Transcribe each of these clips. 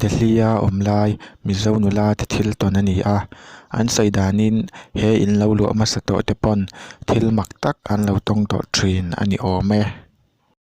Delhi-a awm lai Mizo nula te thil tawn a ni a, an sawi danin he in lo luah hmasa tawh te pawn thil mak tak an lo tawng tawh thin a ni awm e.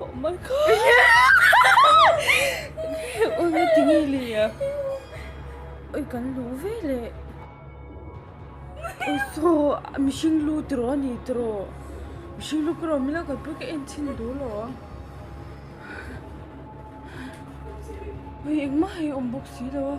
Oh my god. Ui me ti ngi li ya. Ui kan lu ve le. Ui so mi sing lu tro ni tro. Mi sing lu kro mi la kan pu ke en chin du lo. Ui eng ma hei om bok si lo.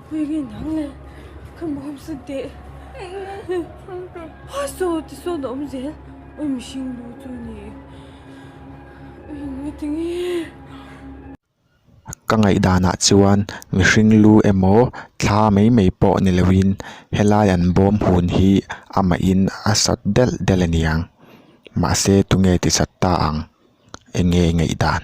Khawi nge dang le ka mawmawsa teh ha saw ti sawn a awm zel ui mihring bu chu ni ui engmati nge ka ngaihdanah chuan mihring lu emaw thla mai mai pawh ni lo in helai an bawm hun hi amah in a sat del del aniang mahse tunge ti sat ta ang enge i ngaihdan.